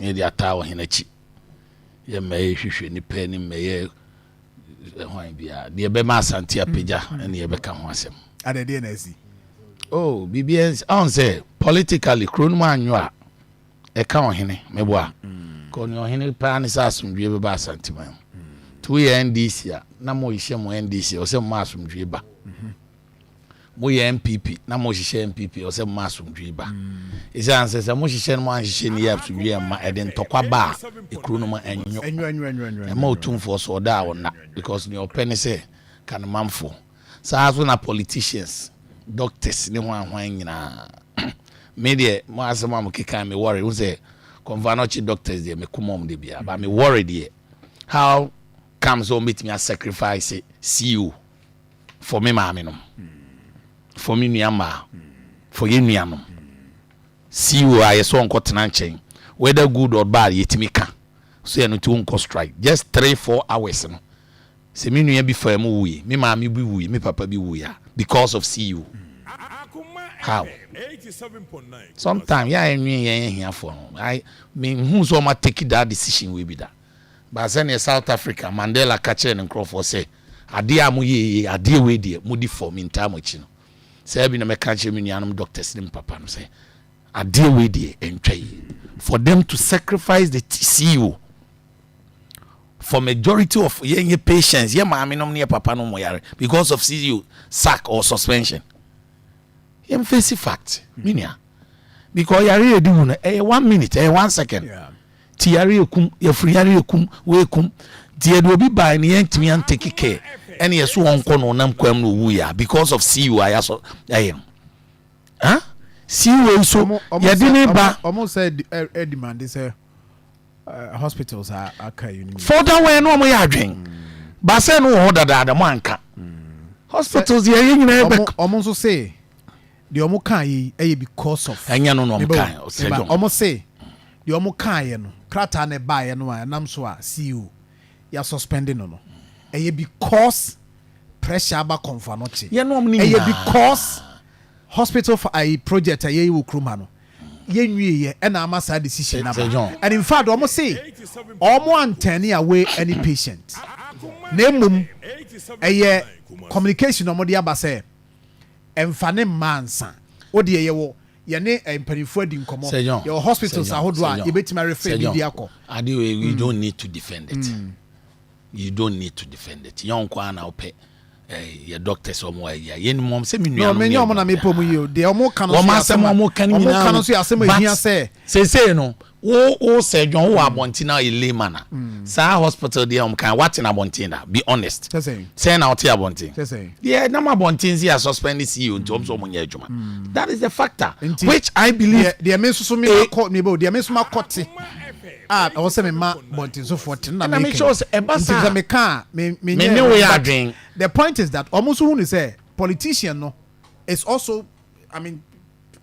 Yɛ de ataa ɔhen akyi. Yɛ mmɛyɛ hwehwɛ nipa ani mmɛyɛ hwan biara. Deɛ ɛbɛma asante apagya mm. ne yɛbɛka ho asɛm. Ada deɛ na asi. Oh, biribi ɛnsi. Ɔn sɛ politically kuro no mu anwo a ɛka ɔhene meboa. Mm. Kɔ ne ɔhene paa ne sɛ asomdwie bɛba asante man mu. To yɛ NDC a na mo hyɛ mo NDC ɔsɛ mo asomdwie ba. Mm-hmm. Mo yɛ NPP na mo hyehyɛ NPP ɔsɛ mo ma asomdwee ba. Esiane sɛ sɛ mo hyehyɛ no mo anhyehyɛ ni yɛ asomdwee ɛmma ɛde ntɔkwa ba a ekuro no ma ɛnyo. Ɛma otumfoɔ so ɔda a ɔnna because nea ɔpɛ ne sɛ ka ne manfoɔ. Saa ara so na politicians, doctors ne hwan hwan nyinaa. Me deɛ mo asɛm a mo keka me worry wohu sɛ Kɔmfanɔkye doctors deɛ me koma wɔn da biara but me worry deɛ how come sɛ wɔn bɛtumi a sacrifice CEO. for me maame nom, for me nua mmaa, for yɛn nuanom. CEO a yɛsɛ ɔnkɔ tena nkyɛn, whether good or bad yɛtumi ka, so yɛn nti wonkɔ strike. Just three four hours no, sɛ me nua bi faa mu wuui, me maame bi wuui, me papa bi wuui a, because of CEO. How? Sometimes yɛ a yɛnwene yɛn ahiafoɔ ho. I, menhuu sɛ ɔma take that decision wei bi da. But sɛdeɛ South Africa, Mandela ka kyerɛɛ ne nkurɔfoɔ sɛ, Adeɛ a moyɛ yi yɛ adeɛ wei deɛ modi fɔ mentaa mo akyi no saa bi na mɛka akyerɛ me nuanom doctors ne me papa no sɛ adeɛ wei deɛ ɛntwa yie for them to sacrifice the TCO for majority of yɛn yɛ patients yɛ maame nom ne yɛ papa nom mo yare because of CEO sack or suspension yɛn face fact me nua because yare yɛ di wu no ɛyɛ one minute ɛyɛ one second. Yeah. Ti yare yɛ kum, yafunu yare yɛ kum, wei kum. Nti yɛde obi bae no yɛantumi an take care ɛne yɛso ɔnkɔ no ɔnam kwam no owuiɛ a because of CEO a yɛasɔ ɛyɛ no. Huh? CEO yi so yɛde ne ba. Ɔmo sɛ ɛdimande sɛ hospitals a aka yi. Further wɛn no ɔmo yɛ adwen. Baasɛ no wɔ hɔ dadaada mo anka. Hospitals yɛ yɛ nyinaa bɛk. Ɔmo nso se Deɛ ɔmo kaeɛ yi ɛyɛ because of. Ɛnyɛ no na ɔmo kaeɛ, ɔsrɛ John. Ɔmo se deɛ ɔmo kaeɛ no, krataa no ɛbaeɛ no a ɛnam so a CEO yi asuspɛnde no no, ɛyɛ because pressure aba Kɔmfo Anokye. Yɛn nom no nyinaa. Ɛyɛ because hospital fa ayi project a yɛyi wɔ kurom ha no, yɛnwieɛ ɛna ama saa decision no aba. And in fact ɔmo se ɔmo anturne away any patient, na mmom ɛyɛ communication na ɔmo de aba sɛ, Mfa ne mmaa nsa. Wo deɛ yɛwɔ yɛne mpanimfoɔ adi nkɔmmɔ. Yɛwɔ hospitals ahodoɔ a yɛbɛtumi arefɛ biribi akɔ. Ade wei you don't need to defend it. You don't need to defend it. Yɛn nko ara na wopɛ yɛ doctors wɔn wɔ ayi a yɛn nim wɔn sɛ mi nua no yɛ wɔn na mi pɔ mu yi o deɛ wɔn ka no so yɛ asɛm a wɔn ka no nyinaa o but sese no Wo wo sɛ dwon wo wɔ abɔnten na ɔyɛ lay man a saa hospital deɛ wɔn kan wate na abɔnten da be honest sɛn na ɔte abɔnten deɛ nam abɔnten si a suspend ne CEO nti wɔn nso wɔn nyɛ adwuma that is the factor which I believe deɛ me nso so mi ma kɔ mi bɛ o deɛ me nso ma kɔ te a ɛwɔ sɛ mi ma bɔntensofoɔ te na mi kɛ nti sɛ mi ka a mi mi nyɛ the point is that wɔn nso hu ni sɛ politician no is also I mean,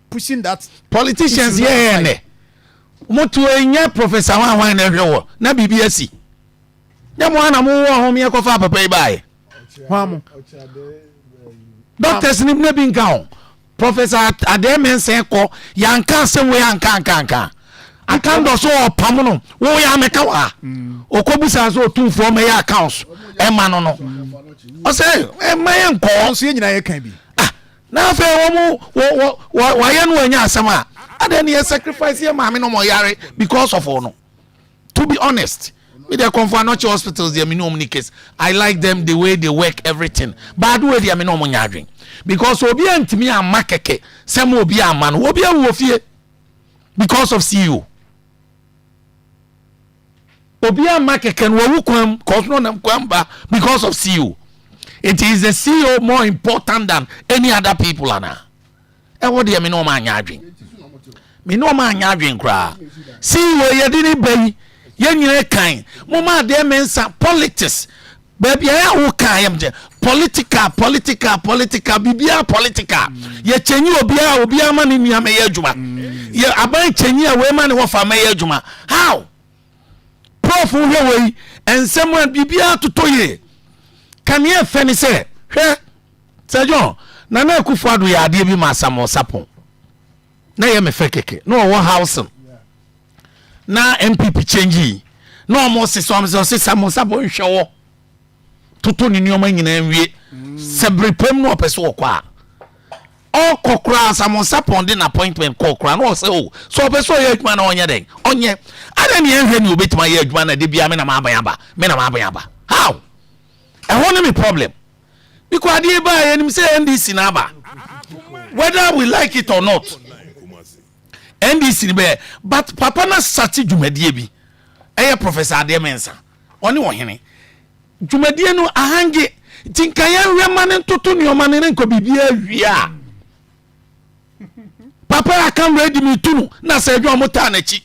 pushing that. Politicians yɛ yɛ nɛ. Mo to enyɛ professor hwan hwan na ɛhwɛ wɔ na biribi asi. Nyɛ mo ana mo wɔ ho meɛ kɔfa papa yi baayɛ. Hwan mo? Doctors ni na bi nka ho. Professor Adɛɛ Mensɛn kɔ yanka asɛm wei anka anka anka. Aka ndɔ so ɔpam no wo yɛ amɛka wa. Mm. Okobu sa so otumfoɔ mɛyɛ accounts ɛma no no. Ɔsɛ ɛma yɛ nkɔɔ. Nso yɛ nyina yɛ kan bi. Na afei wɔn mo wɔ wɔ wɔ wɔayɛ no wɔanya asɛm a adɛn ne yɛ sacrifice yɛ maame no wɔn yare because of wɔn no to be honest me deɛ kɔnfo anɔkye hospitals deɛ me ne wɔn ni case I like them the way they work everything but adoe deɛ me ne wɔn nya adwen because obi antumi ama kɛkɛ sɛ mo obi ama no obi awu wɔ fie because of CEO. obi ama kɛkɛ no wawu kwan mu cause no nam kwan ba because of ceo it is the ceo more important than any other people ana ɛwɔ deɛ me ne ɔma anyɛ adwen me ne ɔma anyɛ adwen koraa ceo yɛde ne ba yi yɛn nyina kan mo ma adeɛ mɛnsa politics Baabi a wo kaa yɛm gye. Political political political biribiara political yɛ kyɛnyi obiara obiara ma ne nua mɛyɛ adwuma yɛ aban kyɛnyi a wei ma ne wɔfa mɛyɛ adwuma how prof wohwɛ wɔ yi nsɛm a biribiara totɔ yie kaneɛ fɛ ne sɛ hwɛ sɛ john nana akufo ado yɛ adeɛ bi ma asamosa pon na yɛ me fɛ kɛkɛ na ɔwɔ housing na npp change yi na ɔmo sesa ɔmo sɛ ɔsesa mo nsa bɔ nhwɛ wɔ toto ne nneɛma nyinaa nwie mm. sɛ bere pam na ɔpɛ so ɔkɔ a ɔkɔ koraa sɛ mo nsa pɔn de na appointment kɔ koraa na ɔsɛ o oh, so ɔpɛ so ɔyɛ adwuma na ɔnyɛ dɛn ɔnyɛ ada ne ɛhwɛ ne obetuma yɛ adwuma na de bia me na ma aban aba me na ma aban aba how ɛhɔ ne me problem biko adeɛ baa yɛ nim sɛ ndc na aba whether we like it or not NDC no bɛyɛ but papa no asate dwumadie bi ɛyɛ Professor Adeɛ Mensah ɔne ɔhene dwumadie no ahange nti nka yɛnhwɛ ma no ntoto nneɛma no ne nkɔ biribiaa wie a papa yɛ aka ready me tu no na sɛ adwa ɔmo taa n'akyi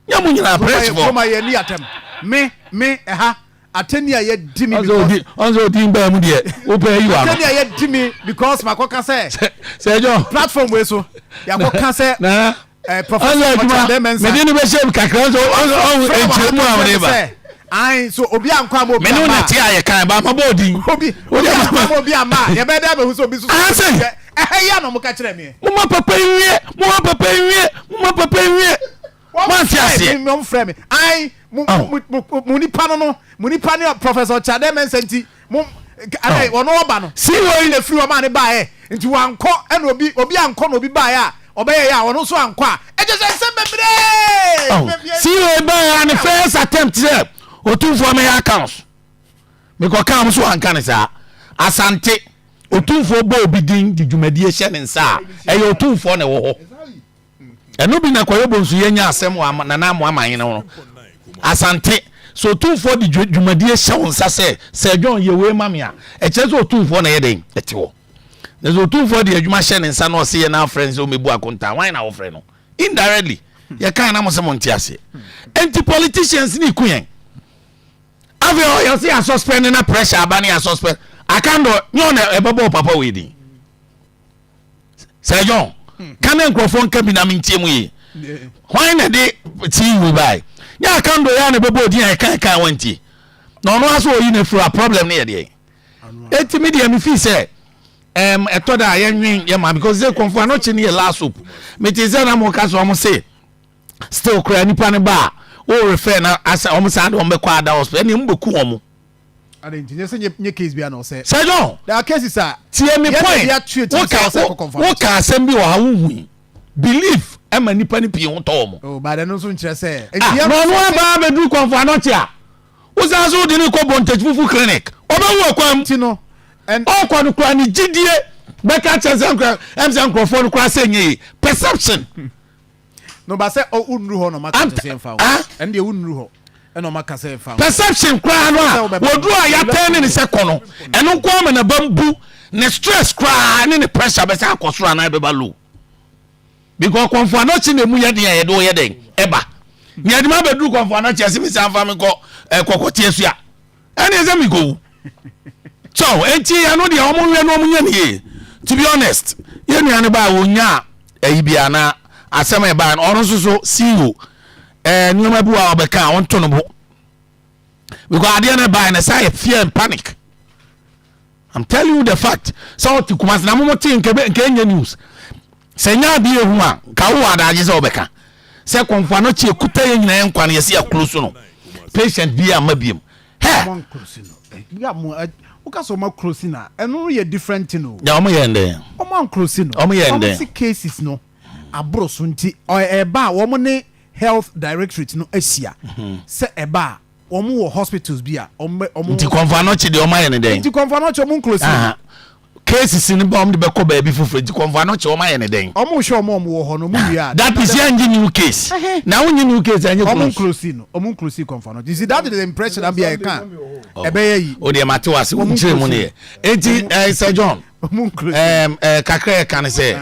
Nyɛ mo nyinaa press bɔ. Kuroma yɛ ni atɛm. Me me ɛha atɛni a yɛ di mi because. Ɔnsɛ odi mbaa mu deɛ wo pɛ yi wa no. Atɛni a yɛ di mi because ma kɔ ka sɛ. Sɛ ɛjɔ. Platform wei so yɛ kɔ ka sɛ. Na ɔnsɛ adwuma mɛ di ni bɛ se kakra ɔnsɛ ɔnsɛ ɛnkyɛn mu a ɔne ba ayi so obi ankɔ ama obi ama menu nate ayɛ kan ba ama bɔ odin obi obi ankɔ ama obi ama yɛbɛ dɛ bɛ hu so obi so so Ɛha yi a na ɔmo ka kyerɛ meɛ. Moma papa nwie moma papa nwie moma papa nwie moante aseɛ. Mo frɛ me ayi mo nipa no no mo nipa ne Professor Kyade Mensah nti mo ɛnɛ ɔno ɔba no. Si wɔ yi na firi ɔmo a ne baayɛ nti wankɔ ɛna obi obi ankɔ na obi baayɛ a ɔbɛyɛ yɛ a ɔno nso ankɔ a ɛkyɛ sɛ nsɛm bebree. Si wɔ yi baayɛ a ne first attempt sɛ otumfoɔ mɛyɛ accounts. Mekɔkaa mo so wɔanka no saa. Asante, Otumfoɔ bɔ obi din de dwumadie hyɛ ne nsa a, ɛyɛ Otumfoɔ na ɛwɔ hɔ. Ɛno bi na Kwayobo nso yɛnya asɛm wɔ Nana Amoah Manhene ho no. Asante, sɛ Otumfoɔ de dwumadie hyɛ wo nsa sɛ Sir John yɛ wei ma me a, ɛkyerɛ sɛ Otumfoɔ na ɛyɛ dɛn? Ɛte hɔ. Na sɛ Otumfoɔ de adwuma hyɛ ne nsa na ɔse yɛ na afrɛ no sɛ ɔmmɛbu akontaa, hwan na wofrɛ no? Indirectly, yɛkae na mo se monte aseɛ. Enti politicians ne ku yɛn. Afei ɔ yɛ se ya suspend no na pressure aba no ya suspend akando nyɛ ɔna ɛbɛbɔɔ papa wei din sɛ john ka na nkurɔfoɔ nka bi na mentie mu yie hwan na de tii wei bae nyɛ akando yɛ na ɛbɛbɔɔ din a ɛka ɛka wantie na ɔno aso ɔyi no afiri a problem no yɛ deɛ ɛti me deɛ mefii sɛ um, ɛtɔ da a yɛnwen yɛ ma because sɛ kɔmfo anɔkye no yɛ last hope mete sɛ na moka so ɔmo se Still koraa nipa no ba a wo refer na asɛ wɔn saa de wɔn bɛkɔ ada hospital ɛnna wɔn bɛku wɔn. Adan nti nyɛ sɛ nyɛ nyɛ case bi a na ɔsɛ. Sɛ John. There are cases a. Tie mi point wo ka asɛm bi wɔ ha wo hui belief ɛma nipa ni pii ho tɔ wɔn. Oh baada no nso nkyerɛ sɛ. Ah na ɔno aba abɛduru kɔnfɔ anɔkye a wosan so wode ne kɔ bɔntɛkyi fufu clinic ɔbɛwu ɔkwan mu. Ti no. Ɔkɔ no kura ne gyidie bɛka kyerɛ sɛ nkura ɛm sɛ nkurɔfoɔ no kura sɛ nyɛ yi perception. na ɔba sɛ ɔ wonnuru hɔ na ɔma ka sɛ mfa wo ɛno deɛ wonnuru hɔ ɛna ɔma ka sɛ mfa wo perception koraa no a wɔduru a yɛatɛn ne ne sɛ kɔ no ɛno nko ama na ba mbu ne stress koraa ne ne pressure bɛsɛ akɔ soro anaa ɛbɛba low because kɔnfo anɔkye na emu yɛ den a yɛde ɔyɛ dɛn ɛba nea ɛde ma bɛduru kɔnfo anɔkye ɛsɛ mi sɛ anfa mi kɔ ɛkɔkɔte asua ɛne ɛsɛ miko so enti ɛno deɛ ɔmo nwɛ no ɔmo nyɛ ne yie to be honest yɛn nua no baa wɔnya ɛyi bia na asɛm a ɛbaa no ɔno nso so CEO ɛɛ eh, nneɛma bi wɔ a ɔbɛka a ɔnto no bo because adeɛ no ɛbaa no ɛsɛ ayɛ fear and panic I'm telling you the fact sɛ ɔte kumase na mo mo te nkɛ nkɛ nyɛ news. Sɛ enye ade ehu a, nka wowɔ adagye sɛ wobɛka sɛ kɔmfoa no kye ekuta yɛn nyinaa nkwa no, yɛse yɛaklosu no, patient biaa mma biom. Hɛ! Ɔmo anklosi no eh, ya mo eh, wo ka sɛ ɔmo aklosi no a, ɛno no yɛ different thing o. Ɔmo yɛɛ ndɛn? Ɔmo anklosi no. Ɔmo yɛɛ ndɛn? Ɔmo se cases no aboro so nti, ɔɛ ɛba a ɔmo ne health directorate no ahyia, sɛ ɛba a ɔmo wɔ hospitals bi a ɔmo bɛ, ɔmo. Nti kɔmfoa no kye deɛ ɔmo ayɛ no dɛn? Nti kɔmfoa no kye ɔmo nklosi no. Cases no bɛ a wɔn de bɛ kɔ baabi foforɔ nti kɔnfoɔ ano kye wɔn ayɛ no dɛn. Wɔn hwɛ wɔn a wɔn wɔ hɔ no wɔn wie a. That is yɛn gye new case na wɔn nye new case a yɛn nye close. Wɔn close no wɔn close kɔnfoɔ ano you see that is the impression abi a ɛka ɛbɛ yɛ yi. O deɛ ma te wa se wɔn kyerɛ mu ne yɛ eti ɛɛ sɛ John ɛɛ ɛɛ kakra yɛ ka ne sɛ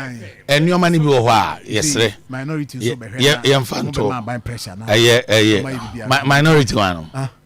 nneɛma no bi wɔ hɔ a yɛsrɛ yɛmfa nto ɛyɛ ɛyɛ minority wa no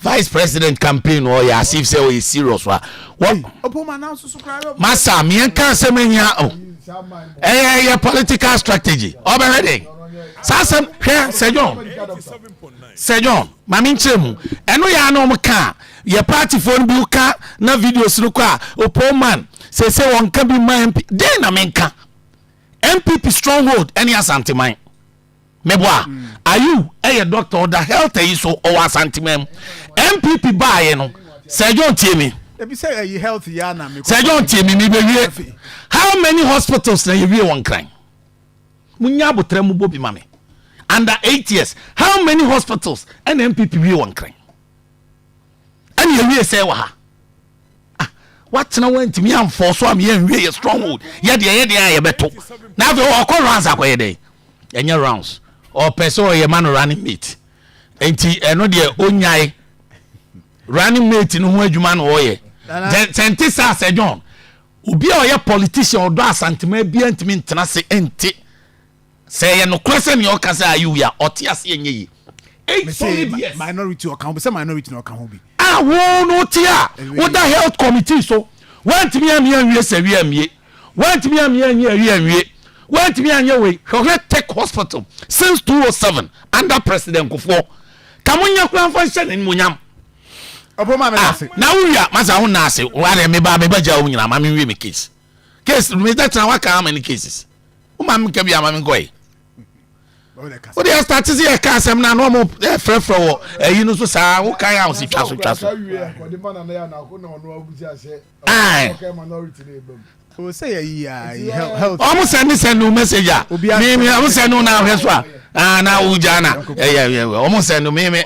Vice president campaign no ɔyɛ as if sɛ ɔyɛ serious a wɔ masa meɛnka asɛm ahia o ɛyɛ ɛyɛ political strategy ɔbɛhwɛ dɛn saa asɛm hwɛ sɛ john sɛ john ma menkyerɛ mu ɛno yɛ a na ɔm ka a yɛ partyfoɔ no bi ka na videos no kɔ a opo man sɛ sɛ wɔnka bi ma mp dɛn na menka mpp stronghold ɛne asanteman Meboa a. Mm. Ayew yɛ doctor ɔda health yi so ɔwɔ asanteman mu. NPP baayɛ no Sir John tie me. Ebi sɛ ɛyi health yi ana me. Sir John tie me me bɛ wie. How many hospitals na yɛ wie wɔn kran? Mo nya abotra mu bɔ bi ma me. Under eight years how many hospitals ɛna NPP wie wɔn kran? Ɛna yɛ wie sɛ wɔ ha. Ah, watena wantumi amfɔ so am yɛnwie yɛ stronghold yɛdeɛ yɛdeɛ a yɛbɛto na afei ɔkɔ rounds akɔyɛ dɛn ɛnyɛ rounds ɔpɛ sɛ ɔyɛ ma no running mate nti ɛno deɛ ɔnyae running mate no ho adwuma na ɔyɛ sɛ nte saa sɛ john obi a ɔyɛ politician ɔdɔ asantema bia ntumi ntena se nte Sɛ ɛyɛ nokorɛ sɛ nea ɔka sɛ ayi wei a ɔte aseɛ nyɛ yie. Eight solid years. Minority ɔka ho bi sɛ minority na ɔka ho bi. A wo no wote a woda health committee so woantumi anwe anwie sɛ wie anwie woantumi anwe anwie awie anwie woantumi anyɛ wei hwɛ ɔhwɛ tech hospital since 207 under president nkofoɔ ka mo nyɛ koraa mfa nhyɛ n'animuonyam Ɔbɔ maa meda ah, ase. Na wo wia masa ho na ase. Wo are me ba me ba gya wo nyina ma me wie me case. case no meda tena waka how many cases woma menka bi ama menkɔe wode ɛstate sɛ yɛka asɛm no a na ɔmo frɛfrɛ wɔ ayi no so saa wokae a wo se twa so twa so ɔmo sɛne sɛne wo message a meme ɔmo sɛne wo na ahwɛ so a ah, na wogya na ɛyɛ ɔmo sɛne meme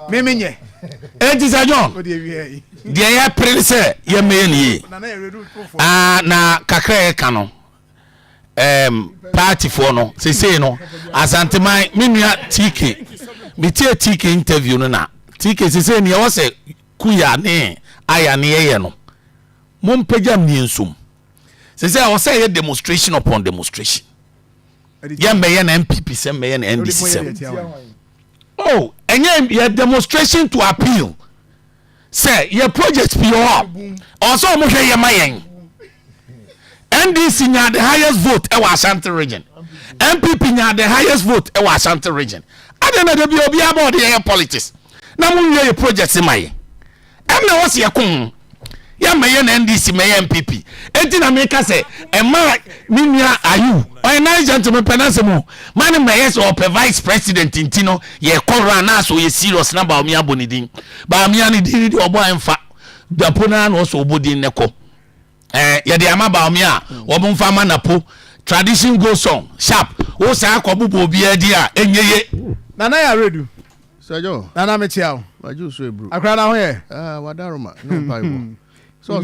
meme nyɛ ɛnti sɛ john deɛ yɛpere ne sɛ yɛmmɛyɛ no yie ah, na kakra yɛka no um, paatifoɔ no sesei no asanteman me nua tike metie tike interview no na tike sesei neɛ wɔ sɛ kuya ne aya ne yɛyɛ no mompagya mmiɛ nsom sesei ɛwɔ sɛ yɛ demonstration upon demonstration yɛmmɛyɛ no mpp sɛ mmɛyɛ no ndc sɛm oh ɛnyɛ yɛ demonstration to appeal sɛ yɛ project pii wɔ hɔ a ɔwɔ sɛ wɔn hwɛ yɛ ma yɛn ndc nyaa the highest vote ɛwɔ ashanti region npp nyaa the highest vote ɛwɔ ashanti region adan na dabi obi abɔ ɔde yɛyɛ politics na mo nwie yɛ project ma yɛ ɛnna wɔsi ɛko ho. yɛ mɛyɛ na ndc mɛyɛ npp eti na mi ka sɛ ɛma mi nua ayu ɔyɛ nice gentleman pɛ n'asɛm o ma ne mɛyɛ sɛ ɔpɛ vice president nti no yɛ kɔ ra na asɔ yɛ serious na baami abɔ ne din baami ani din de ɔbɔ ɛnfa dapo na na ɔsɔ ɔbɔ din ne kɔ ɛɛ eh, yɛde ama baami a wɔn nfa ama napo tradition go song sharp o saa akɔ bobɔ obiara di a enye ye. nana yɛ aredu. Sɛ John. Nana mekyea wo. Wagye wo so aburu. Akra na ho yɛ. Ah, wada Roma. No mpaebɔ. Sɛ ɔsɔ.